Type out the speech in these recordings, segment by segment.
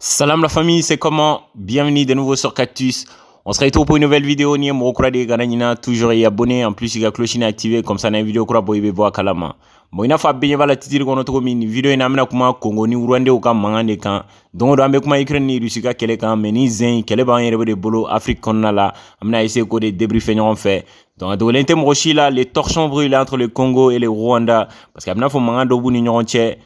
Salam la famille, c'est comment Bienvenue de nouveau sur Cactus. On se retrouve pour une nouvelle vidéo. Ni mɔgɔ kura de ye kana ɲina toujours i abonné en plus i ka cloche na activer comme ça n'a vidéo kura bɔ i bɛ bɔ a kalama. Bon i n'a fɔ a bɛɛ ɲɛ b'a la titiri kɔnɔ cogo min nin vidéo in na an bɛna kuma Congo ni Rwanda u ka mankan de kan. Don o don an bɛ kuma Ukraine ni Russie ka kɛlɛ kan mais ni zen kɛlɛ b'an yɛrɛ de bolo Afrique kɔnɔna la an bɛna essayer k'o de débriefer ɲɔgɔn fɛ. Donc a dogolen tɛ mɔgɔ si la les torchons brûlent entre le Congo et le Rwanda parce que a bɛna fɔ mankan dɔ b'u ni ɲɔgɔn cɛ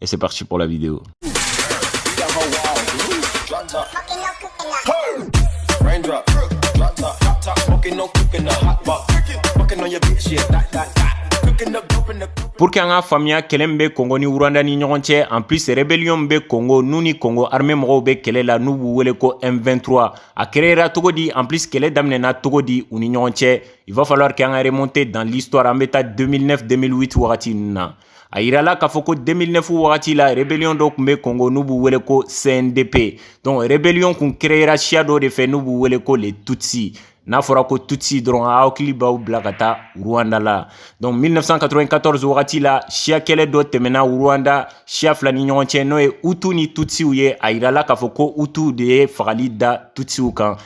Et c'est parti pour la vidéo. Pour que an ka faamuya kɛlɛ min bɛ kongo ni rwanda ni ɲɔgɔn cɛ en plus rébellion min bɛ kongo n'u ni kongo armée mɔgɔw bɛ kɛlɛ la n'u b'u wele ko M23 a créera cogo di en plus kɛlɛ daminɛna cogo di u ni ɲɔgɔn cɛ il va falloir que an ka remonter dans l'histoire an bɛ taa 2009 2008 wagati ninnu na a yirala k'a fɔ ko 2009 wagati la rebellion dɔ kun bɛ Congo n'u b'u wele ko CNDP donc rebellion kun créera siya dɔ de fɛ n'u b'u wele ko les Tutsis n'a fɔra ko tutsi dɔrɔn aw hakili b'aw bila ka taa rwanda la donc 1994 wagati la siya kɛlɛ dɔ tɛmɛna rwanda siya fila ni ɲɔgɔn cɛ n'o ye hutu ni tutsiw ye a yirala k'a fɔ ko hutu de ye fagali da tutsiw kan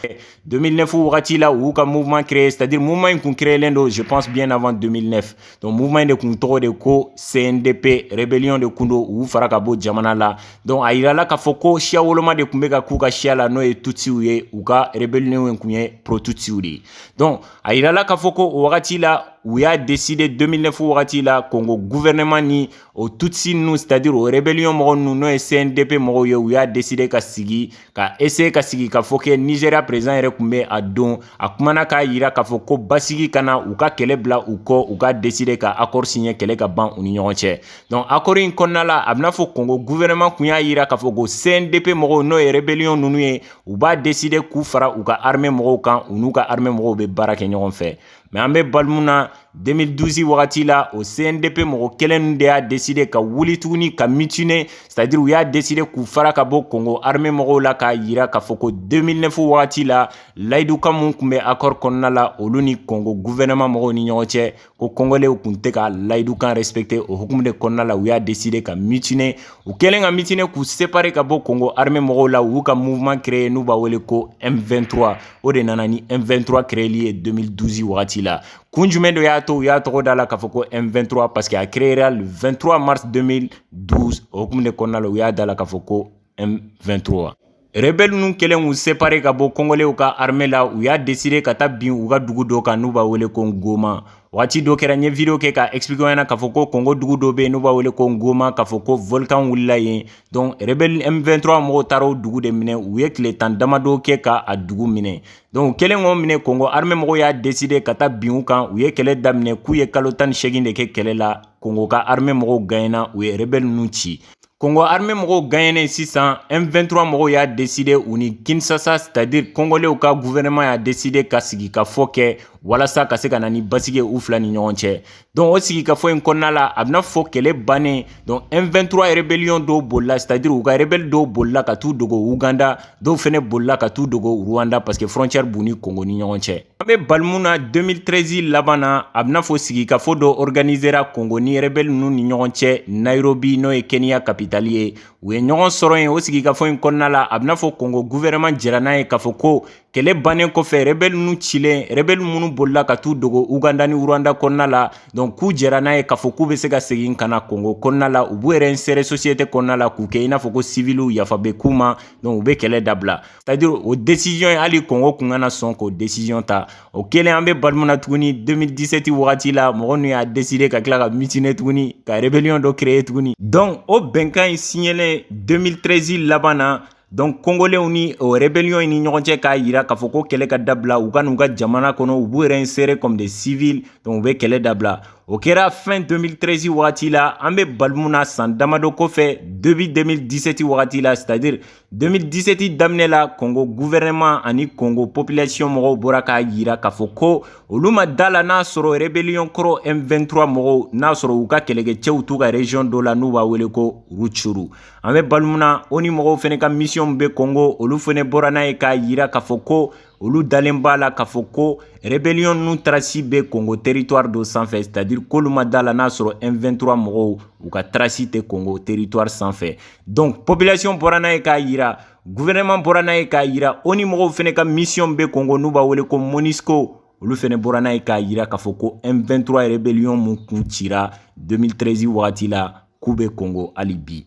2009 wagati la u y'u ka mouvement créé c'est à dire mouvement in kun créelen don je pense bien avant 2009 donc mouvement in de kun tɔgɔ de ko CNDP rébellion de kun don u fara ka bɔ jamana la donc a yirala k'a fɔ ko siya woloma de kun bɛ ka k'u ka siya la n'o ye tutsiw ye u ka rébellion in kun ye pro tutsiw de ye donc a yirala k'a fɔ ko o wagati la u y'a décider 2009 wagati la Congo gouvernement ni o tutsi ninnu c'est-à-dire o rébellion mɔgɔ ninnu n'o ye CNDP mɔgɔw ye u y'a décider ka sigi ka eseye ka sigi ka fɔ kɛ nizeriya prezidan yɛrɛ kun bɛ a don a kumana k'a yira k'a fɔ ko basigi ka na u ka kɛlɛ bila u kɔ u k'a deside ka akɔri siɲɛ kɛlɛ ka ban u ni ɲɔgɔn cɛ donc akɔri in kɔnɔna la a bɛna fɔ kongo guvɛrɛnɛman kun y'a yira k'a fɔ ko cndp mɔgɔw n'o ye rebeliyɔn ninnu ye u b'a deside k'u fara u ka arme mɔgɔw kan u n'u ka arme mɔgɔw bɛ baara kɛ ɲɔgɔn fɛ mɛ an bɛ bali mun na 2012 wagati la o cndp mɔgɔ kelen de y'a deside ka wuli tuguni ka mitine c'est-à-dire u y'a deside k'u fara ka bɔ kongo arme mɔgɔw la k'a yira k'a fɔ ko 2009 wagati la layidukan minw kun bɛ akɔri kɔnɔna la olu ni kongo guvɛnɛma mɔgɔw ni ɲɔgɔn cɛ ko kongolɛw kun tɛ ka layidukan respecte o hukumu de kɔnɔna la u y'a deside ka mitine u kɛlen ka mitine k'u separe ka bɔ kongo arme mɔgɔw la u y'u ka mouvement créer n'u b'a wele ko m23 o de nana ni M23 créeli ye 2012 wagati la kun jumɛn dɔ y'a to u y'a tɔgɔ da la k'a fɔ ko M23 parce que a créera le 23 mars 2012 o hukumu de kɔnɔna la u y'a da la k'a fɔ ko M23 rebɛl ninnu kɛlen k'u separe ka bɔ kongolɛw ka arme la u y'a deside ka taa bin u ka dugu dɔ kan n'u b'a wele ko goma waati dɔ kɛra n ye video kɛ k'a explique ɲɛna k'a fɔ ko kongo dugu dɔ bɛ yen n'u b'a wele ko ngoma k'a fɔ ko volcan wulila yen donc rebelle m23 mɔgɔw taara o dugu de minɛ u ye tile tan damadɔ kɛ ka a dugu minɛ donc u kɛlen k'o minɛ kongo armée mɔgɔw y'a décider ka taa bin u kan u ye kɛlɛ daminɛ k'u ye kalo tan ni seegin de kɛ kɛlɛ la kongo ka armée mɔgɔw gagnena u ye rebelle ninnu ci Kongo armée mɔgɔw gagnenen sisan M23 mɔgɔw y'a décider u ni Kinshasa c'est à dire kongolɛw ka gouvernement y'a décider ka sigi ka fɔ kɛ walasa ka se ka na ni basigi u fila ni ɲɔgɔn cɛ donc o sigi ka fɔ in kɔnɔna la a bɛna fɔ kɛlɛ bannen donc M23 rebellion dɔw bolila c'est à dire u ka rebelle dɔw bolila ka taa u dogo uganda dɔw fana bolila ka taa u dogo rwanda parce que frontière b'u ni kongo ni ɲɔgɔn cɛ An bɛ balima na 2013 laban na a bɛna fɔ sigi ka fɔ dɔ organisera kongo ni rebelle ninnu ni ɲɔgɔn cɛ Nairobi n'o ye Kenya kapitali ye u ye ɲɔgɔn sɔrɔ yen o sigi kafɔ in kɔnɔna la a bɛna fɔ kongo gouvernement jɛra n'a ye k'a fɔ ko kɛlɛ bannen kɔfɛ rebelle ninnu cilen rebelle minnu bolila ka taa u dogo uganda ni rwanda kɔnɔna la donc k'u jɛra n'a ye k'a fɔ k'u bɛ se ka segin ka na kongo kɔnɔna la u b'u réinsérer société kɔnɔna la k'u kɛ i n'a fɔ ko civilw yafa bɛ k'u ma donc u bɛ kɛlɛ dabila C'est à dire o desiziyɔn in hali kongo kun kana sɔn k'o desiziyɔn ta o kɛlen an bɛ balima na tuguni 2017 wagati la mɔgɔ ninnu y'a décider ka tila ka mutiner tuguni ka rebellion dɔ créer tuguni donc o bɛnkan in siɲɛlen 2013 laban na donc kongolɛw ni o rebellion in ni ɲɔgɔn cɛ k'a jira k'a fɔ ko kɛlɛ ka dabila u ka n'u ka jamana kɔnɔ u b'u réinsérer comme des civils donc u bɛ kɛlɛ dabila o kɛra fin 2013 wagati la an bɛ balima na san damadɔ kɔfɛ depuis 2017 wagati la c'est à dire 2017 daminɛ la kongo guvɛrɛnɛman ani kongo popilasiyɔn mɔgɔw bɔra k'a jira k'a fɔ ko olu ma da la n'a sɔrɔ rebeliyɔn kɔrɔ m23 mɔgɔw n'a sɔrɔ u ka kɛlɛkɛcɛw t'u ka rejiyɔn dɔ la n'u b'a wele ko rucuru an bɛ balima na ONU mɔgɔw fana ka misiyɔnw bɛ kongo olu fana bɔra n'a ye k'a jira k'a fɔ ko olu dalen b'a la k'a fɔ ko rebellion ninnu tarasi bɛ Congo territoire dɔ sanfɛ c'est à dire k'olu ma d'a la n'a sɔrɔ M23 mɔgɔw u ka tarasi tɛ Congo territoire sanfɛ donc population bɔra n'a ye k'a jira gouvernement bɔra n'a ye k'a jira ONU mɔgɔw fana ka mission bɛ Congo n'u b'a wele ko MONUSCO olu fana bɔra n'a ye k'a jira k'a fɔ ko M23 rebellion mun kun cira 2013 wagati la k'u bɛ Congo hali bi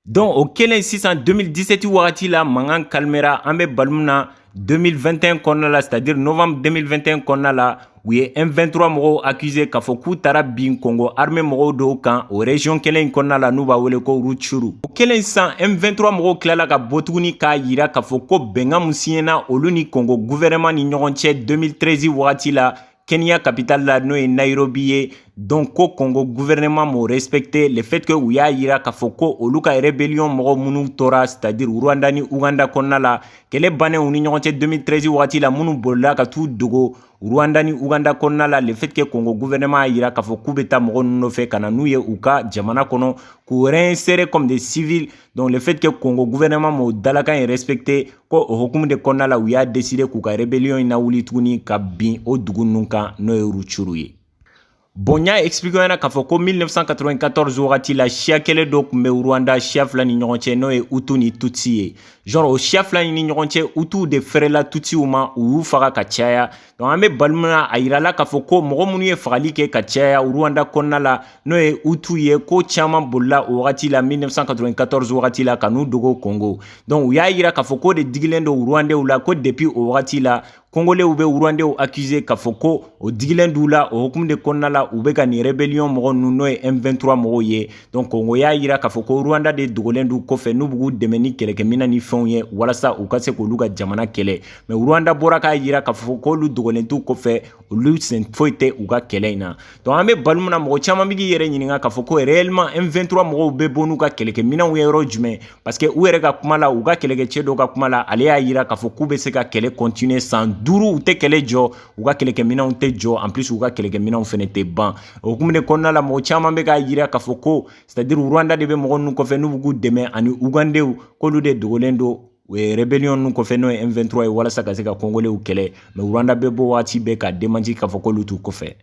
Donc o kɛlen sisan 2017 wagati la mankan calmera an bɛ balima na 2021 kɔnɔna la c'est à dire novembre 2021 kɔnɔna la u ye M23 mɔgɔw accuser k'a fɔ k'u taara bin Congo armée mɔgɔw dɔw kan o région kelen in kɔnɔna la n'u b'a wele ko Rutshuru o kɛlen sisan M23 mɔgɔw tilala ka bɔ tuguni k'a jira k'a fɔ ko bɛnkan min siɲɛna olu ni Congo gouvernement ni ɲɔgɔn cɛ 2013 wagati la Kenya capitale la n'o ye Nairobi ye donc ko Congo gouvernement m'o respecter le fait que u y'a yira k'a fɔ ko olu ka rébellion mɔgɔ minnu tora c'est à dire Rwanda ni Ouganda kɔnɔna la kɛlɛ bannen u ni ɲɔgɔn cɛ 2013 waati la minnu bolila ka t'u dogo Rwanda ni Ouganda kɔnɔna la le fait que Congo gouvernement y'a yira k'a fɔ k'u bɛ taa mɔgɔ ninnu nɔfɛ ka na n'u ye u ka jamana kɔnɔ k'u réinsérer comme des civils donc le fait que Congo gouvernement m'o dalakan in respecter ko o hukumu de kɔnɔna la u y'a décider k'u ka rébellion in lawuli tuguni ka bin o dugu ninnu kan n'o ye Rutshuru ye bon n y'a expliquer ɲɛna k'a fɔ ko 1994 wagati la siya kɛlɛ dɔ tun bɛ rwanda siya fila ni ɲɔgɔn cɛ n'o ye Hutu ni tutsi ye genre o siya fila ni ɲɔgɔn cɛ Hutuw de fɛrɛla tutsiw ma u y'u faga ka caya donc an bɛ baro min na a yirala k'a fɔ ko mɔgɔ minnu ye fagali kɛ ka caya Rwanda kɔnɔna la n'o ye Hutu ye ko caman bolila o wagati la 1994 wagati la ka n'u dogo Congo donc u y'a yira k'a fɔ k'o de digilen don rwandew la ko depuis o wagati la kongolew bɛ rwandew accuser k'a fɔ ko o digilen d'u la o hukumu de kɔnɔna la u bɛ ka nin rébellion mɔgɔ ninnu n'o ye m23 mɔgɔw ye donc Congo y'a yira k'a fɔ ko Rwanda de dogolen d'u kɔfɛ n'u b'u dɛmɛ ni kɛlɛkɛminɛn ni fɛnw ye walasa u ka se k'olu ka jamana kɛlɛ mais Rwanda bɔra k'a yira k'a fɔ k'olu dogolen t'u kɔfɛ olu sen foyi tɛ u ka kɛlɛ in na donc an bɛ baro min na mɔgɔ caman bɛ k'i yɛrɛ ɲininka k'a fɔ ko réellement M23 mɔgɔw bɛ bɔ n'u ka kɛlɛkɛminɛnw ye yɔrɔ jumɛn parce que u yɛrɛ ka kuma la u ka kɛlɛkɛcɛ dɔw ka kuma la ale y'a yira k'a fɔ k'u bɛ se ka kɛlɛ continuer san duuru u tɛ kɛlɛ jɔ u ka kɛlɛkɛminɛnw tɛ jɔ en plus u ka kɛlɛkɛminɛnw fana tɛ ban o hukumu de kɔnɔna la mɔgɔ caman bɛ k'a yira k'a fɔ ko c'est à dire Rwanda de bɛ mɔgɔ ninnu kɔfɛ n'u bɛ k'u dɛmɛ ani ugandew k'olu de dogolen don U ye rébellion ninnu kɔfɛ n'o ye M23 ye walasa ka se ka Congolais kɛlɛ mais Rwanda bɛ bɔ waati bɛɛ ka démentir k'a fɔ k'olu t'u kɔfɛ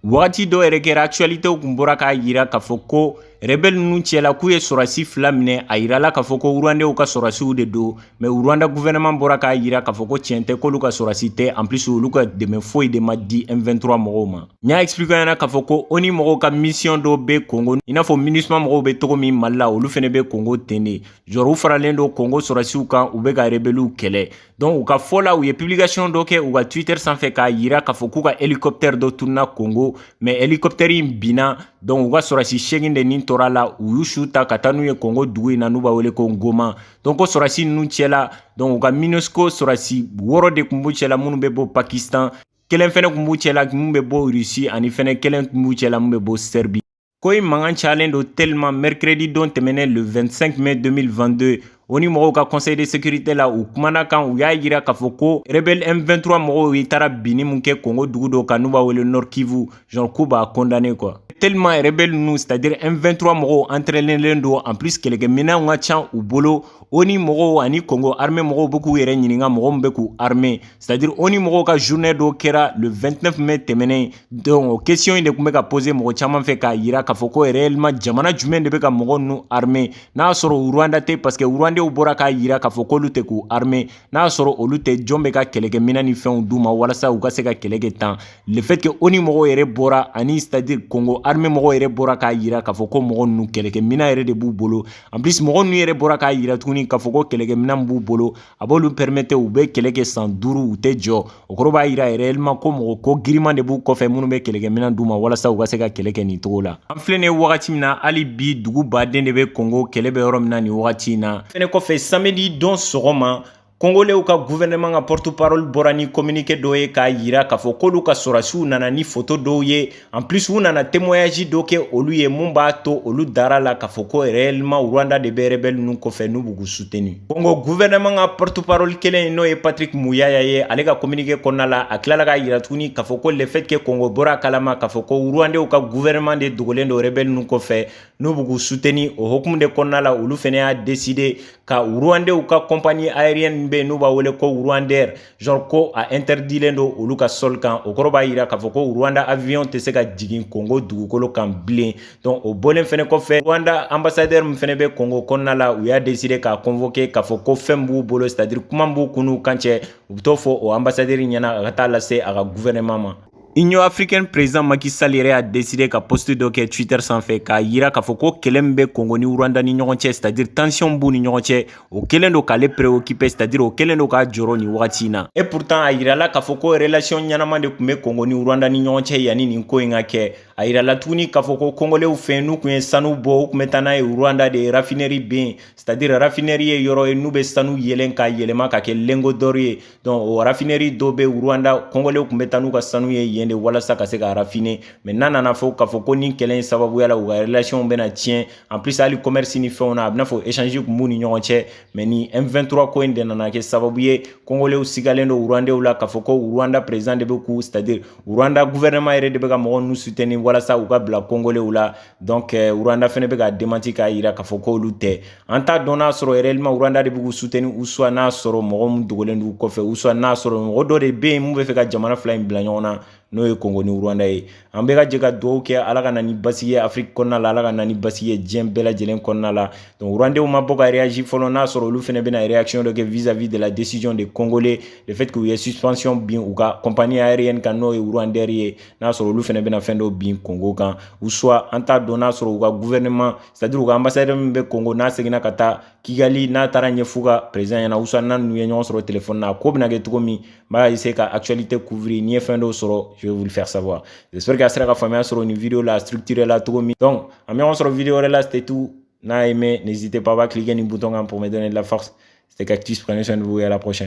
wagati dɔ yɛrɛ kɛra actualité kun bɔra k'a yira k'a fɔ ko rebelle ninnu cɛla k'u ye sɔrɔsi fila minɛ a yirala k'a fɔ ko rwandew ka sɔrɔsiw de don mais rwanda gouvernement bɔra k'a yira k'a fɔ ko tiɲɛ tɛ k'olu ka sɔrɔsi tɛ en plus olu ka dɛmɛ foyi de ma di M23 mɔgɔw ma n y'a expliquer ɲɛna k'a fɔ ko ONU mɔgɔw ka mission dɔ bɛ Congo i n'a fɔ MINUSMA mɔgɔw bɛ cogo min Mali la olu fana bɛ Congo ten de genre u faralen don Congo sɔrɔsiw kan u bɛ ka rebeliw kɛlɛ donc u ka fɔ la u ye publication dɔ kɛ u ka twitter sanfɛ k'a yira k'a fɔ k'u ka hélicoptère dɔ tununa Congo mais hélicoptère in binna donc u ka sɔrɔsi segin de nin tora la u y'u su ta ka taa n'u ye Congo dugu in na n'u b'a wele ko ngoma donc ko sɔrɔsi ninnu cɛla donc u ka minusco sɔrɔsi wɔrɔ de tun b'u cɛla minnu bɛ bɔ pakistan kelen fɛnɛ tun b'u cɛla min bɛ bɔ Russie ani fɛnɛ kelen tun b'u cɛla minnu bɛ bɔ serbie ko in mankan cayalen don tellement mercredi don tɛmɛnen le 25 mai 2022 onu mɔgɔw ka conseil de sécurité la u kumana kan u y'a yira k'a fɔ ko rebelle m23 mɔgɔw ye taara binni min kɛ kongo dugu dɔ kan n'u b'a wele nord kivu genre k'u b'a condamné quoi tellement rebelle ninnu c'est à dire m23 mɔgɔw entraînelen don en plus kɛlɛkɛminɛnw ka can u bolo onu mɔgɔw ani kongo armée mɔgɔw bɛ k'u yɛrɛ ɲininka mɔgɔ min bɛ k'u armer c'est à dire onu mɔgɔw ka journée dɔ kɛra le 29 mai tɛmɛnen donc o question in de tun bɛ ka poser mɔgɔ caman fɛ k'a yira k'a fɔ ko réellement jamana jumɛn de bɛ ka mɔgɔ ninnu armer n'a y'a sɔrɔ Rwanda tɛ parce que Rwandew bɔra k'a yira k'a fɔ k'olu tɛ k'u armer n'a y'a sɔrɔ olu tɛ jɔn bɛ ka kɛlɛkɛminɛn ni fɛnw d'u ma walasa u ka se ka kɛlɛ kɛ tan le fait que ONU mɔgɔw yɛrɛ bɔra ani c'est à dire Congo armée mɔgɔw yɛrɛ bɔra k'a yira k'a fɔ ko mɔgɔ ninnu kɛlɛkɛminɛn yɛrɛ de b'u bolo en plus mɔgɔ ninnu yɛrɛ bɔra k'a yira tuguni k'a fɔ ko kɛlɛkɛminɛn b'u bolo a b'olu permettre u bɛ kɛlɛ kɛ san duuru u tɛ jɔ o kɔrɔ b'a yira réellement ko mɔgɔ ko giriman de b'u kɔfɛ minnu bɛ kɛlɛkɛminɛn d'u ma walasa u ka se ka kɛlɛ kɛ nin cogo la an filɛ nin ye wagati min na hali bi dugu baden de bɛ kongo kɛlɛ bɛ yɔrɔ min na nin wagati in na fɛnɛ kɔfɛ samedi don sɔgɔma kongolew ka gouvernement ka porte parole bɔra ni communiqué dɔ ye k'a yira k'a fɔ k'olu ka sɔrasiw nana ni foto dɔw ye En plus u nana témoignage dɔ kɛ olu ye mun b'a to olu dara a la k'a fɔ ko réellement Rwanda de bɛ rebelle ninnu kɔfɛ n'u bɛ k'u soutenir Congo gouvernement ka porte parole kelen in n'o ye Patrick Muyaya ye ale ka communiqué kɔnɔna la a tilala k'a yira tuguni k'a fɔ ko le fait que Congo bɔra a kalama k'a fɔ ko Rwandais ka gouvernement de dogolen don rebelle ninnu kɔfɛ n'u bɛ k'u soutenir o hokumu de kɔnɔna la olu fɛnɛ y'a décidé ka Rwandais ka compagnie aérienne bɛ yen n'u b'a wele ko Rwandair genre ko a interdilen don olu ka sol kan o kɔrɔ b'a yira k'a fɔ ko Rwanda avion tɛ se ka jigin Congo dugukolo kan bilen donc o bɔlen fɛnɛ kɔfɛ Rwanda ambassadeur min fɛnɛ bɛ Congo kɔnɔna la u y'a décidé k'a convoquer k'a fɔ ko fɛn min b'u bolo c'est à dire kuma min b'u kun n'u kan cɛ u bɛ t'o fɔ o ambassadeur ɲɛna a ka taa lase a ka gouvernement ma Union africaine président Macky Sall yɛrɛ y'a décidé ka post dɔ kɛ Twitter sanfɛ k'a yira k'a fɔ ko kɛlɛ min bɛ Congo ni Rwanda ni ɲɔgɔn cɛ c'est-à-dire tension b'u ni ɲɔgɔn cɛ o kɛlen don k'ale préoccuper c'est-à-dire o kɛlen don k'a jɔrɔ nin wagati in na et pourtant a yirala k'a fɔ ko relation ɲɛnama de tun bɛ Congo ni Rwanda ni ɲɔgɔn cɛ yanni nin ko in ka kɛ a yirala tuguni k'a fɔ ko kongolew fɛ n'u tun ye sanu bɔ u tun bɛ taa n'a ye Rwanda de raffinerie bɛ yen c'est-à-dire raffinerie ye yɔrɔ ye n'u bɛ sanu yeelen k'a yɛlɛma ka kɛ lingot d'or ye donc o raffinerie dɔ bɛ Rwanda kongolew tun bɛ taa n'u ka sanu ye yen de walasa ka se ka raffiner mais n'a nana fɔ k'a fɔ ko nin kɛlɛ in sababuya la u ka relation bɛna tiɲɛ en plus hali commerce ni fɛnw na a bɛna fɔ échange tun b'u ni ɲɔgɔn cɛ mais nin M23 ko in de nana kɛ sababu ye kongolew sigalen don Rwandew la k'a fɔ ko Rwanda président de bɛ k'u c'est à dire Rwanda gouvernement yɛrɛ de bɛ ka mɔgɔ ninnu soutenir walasa u ka bila kongolew la donc eh, Rwanda fɛnɛ bɛ ka démenti k'a yira k'a fɔ k'olu tɛ an t'a dɔn n'a sɔrɔ réellement Rwanda de bɛ k'u soutenir ou soit n'a sɔrɔ mɔgɔ min dogolen d'u kɔfɛ ou soit n'a sɔrɔ mɔgɔ dɔ de bɛ yen mun bɛ fɛ ka jamana fila in bila ɲɔgɔn na n'o ye Congo ni Rwanda ye an bɛ ka jɛ ka dugawu kɛ Ala ka na ni basigi ye Afrique kɔnɔna la Ala ka na ni basigi ye diɲɛ bɛɛ lajɛlen kɔnɔna la donc Rwandais ma bɔ ka réagir fɔlɔ n'a sɔrɔ olu fɛnɛ bɛna réaction dɔ kɛ vis-à-vis de la décision des Congolais le fait que u ye suspension bin u ka compagnie aérienne kan n'o ye Rwandair ye n'a sɔrɔ olu fɛnɛ bɛna fɛn dɔ bin Congo kan ou soit an t'a dɔn n'a sɔrɔ u ka gouvernement c'est-à-dire u ka ambassadeur min bɛ Congo n'a seginna ka taa Kigali n'a taara ɲɛf'u ka président ɲɛna ou soit n'a n'u ye ɲɔgɔn sɔrɔ téléphone na a ko bɛna kɛ cogo min n b'a essayer ka actualité couvrir ni n ye fɛn dɔw sɔrɔ je vais vous le faire savoir j'espère que a sera ka faamuya sɔrɔ nin vidéo la structuré la cogo min donc an bɛ ɲɔgɔn sɔrɔ vidéo wɛrɛ la c'était tout n'a aimé n'hésitez pas à cliquer nin bouton kan pour me donner de la force c'était Cactus prenez soin de vous et à la prochaine